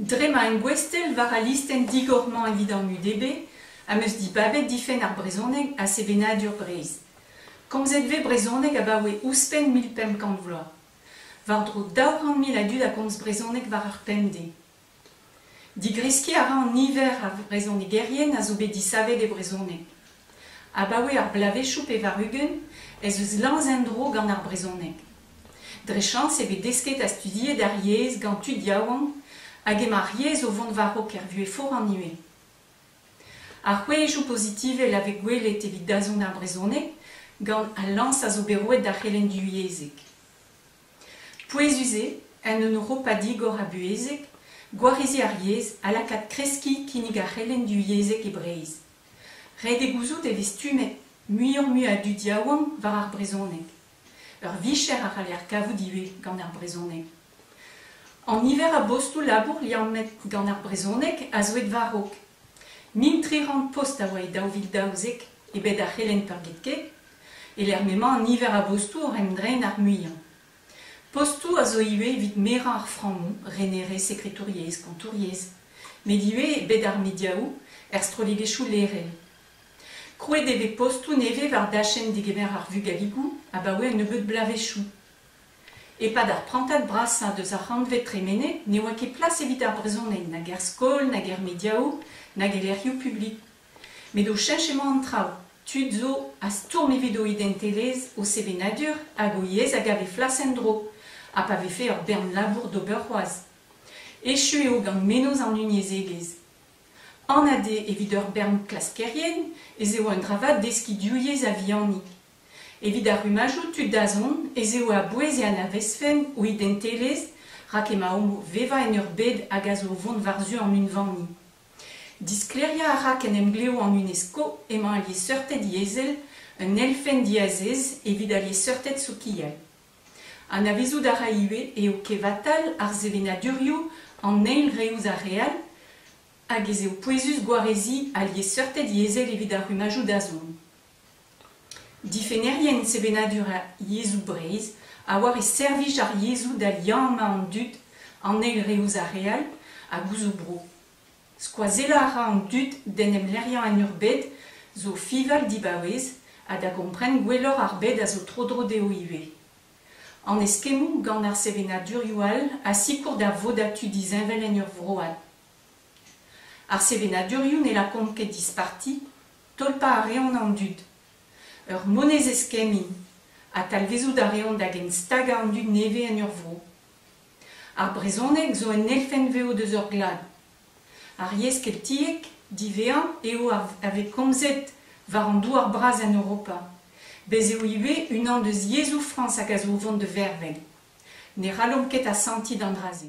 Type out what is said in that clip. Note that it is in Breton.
Dre ma en gouestell war al listenn digor-mañ evit an udb am eus dibabet difenn ar brezhoneg ha sevenadur Breizh. Komzet vez brezhoneg abaoe ouzhpenn mil pemp kant vloaz. War-dro daou c'hant mil a dud a gomz brezhoneg war ar pemdez. Digreskiñ a ra an niver a vrezhonegerien a zo bet disavet e brezhoneg. Abaoe ar bloavezhioù pevar-ugent ez eus lañs en-dro gant ar brezhoneg. Dre chañs e vez desket ha studiet ar yezh gant tud yaouank hag emañ ar yezh o vont war-raok er vuhez foran ivez. Ar c'hwezhioù pozitivel a vez gwelet evit dazont ar brezhoneg gant al lañs a zo bet roet d'ar c'helenn divyezhek. Pouezus eo, en un Europa digor ha buhezek, gwarizi ar yezh ha lakaat kreskiñ kinnig ar c'helenn divyezhek e Breizh. Ret eo gouzout e vez stummet muioc'h-mui a dud yaouank war ar brezhoneg. Ur vicher a c'haller kavout ivez gant ar brezhoneg. An niver a bostoù-labour liammet gant ar brezhoneg a zo aet war-raok. Mil tri c'hant post a oa e daou vil daouzek e bed ar c'helenn peurgetket, e-lec'h m'emañ an niver a bostoù oc'h em dreiñ d'ar muiañ. Postoù a zo ivez evit merañ ar frammoù, renerezh sekretouriezh, kontouriezh, met ivez e bed ar mediaoù, er strollegezhioù lerel. Krouet e vez postoù nevez war dachenn degemer ar vugaligoù abaoe un nebeud bloavezhioù. E-pad ar prantad brasañ deus ar c'hantved tremenet ne oa ket plas evit ar brezhoneg nag er skol nag er mediaoù nag e lec'hioù publik. Met o cheñch emañ an traoù, tud zo a stourm evit o identelezh, o sevenadur hag o yezh a gav he flas en-dro, ha pa vefe ur bern labour d'ober c'hoazh. Echu eo gant menoz an unyezhegezh. Anat eo evit ur bern klaskerien ez eo un dra vat deskiñ div yezh a-vihanik. Evit ar rummajoù tu-dazont ez eo a-bouez e anavezfen o identelezh rak emaomp o vevañ en ur bed hag a zo o vont war-zu an unvaniñ. Disklêriañ a ra qu'en emglev an UNESCO emañ al liesseurted yezhel un elfenn diazez evit al liesseurted sokial. Anavezout a ra ivez eo kevatal ar sevenadurioù an eil re ouzh ar re all hag ez eo pouezus gwareziñ al liesseurted yezhel evit ar rummajoù dazont. Difennerien sevenadur ar yezhoù Breizh a oar e servij ar yezhoù da liammañ an dud, an eil re ouzh ar re all hag ouzh o bro. Skoazellañ a ra an dud d'en em lec'hiañ en ur bed zo fiñval dibaouez ha da gompren gwelloc'h ar bed a zo tro-dro dezho ivez. An eskemmoù gant ar sevenadurioù all a sikour da vodatu disheñvel en ur vro all. Ar sevenadurioù ne lakaont ket disparti Tolpañ a reont an dud. Ur monezez-kemmiñ ha talvezout a reont da genstagañ an dud nevez en ur vro. Ar brezhoneg zo un elfenn-vev deus hor glad. Ar yezh keltiek, divezañ, eo a vez komzet war an douar-bras en Europa. Bez' eo ivez unan deus yezhoù Frañs hag a zo o vont da vervel. Ne rallomp ket asantiñ d'an dra-se.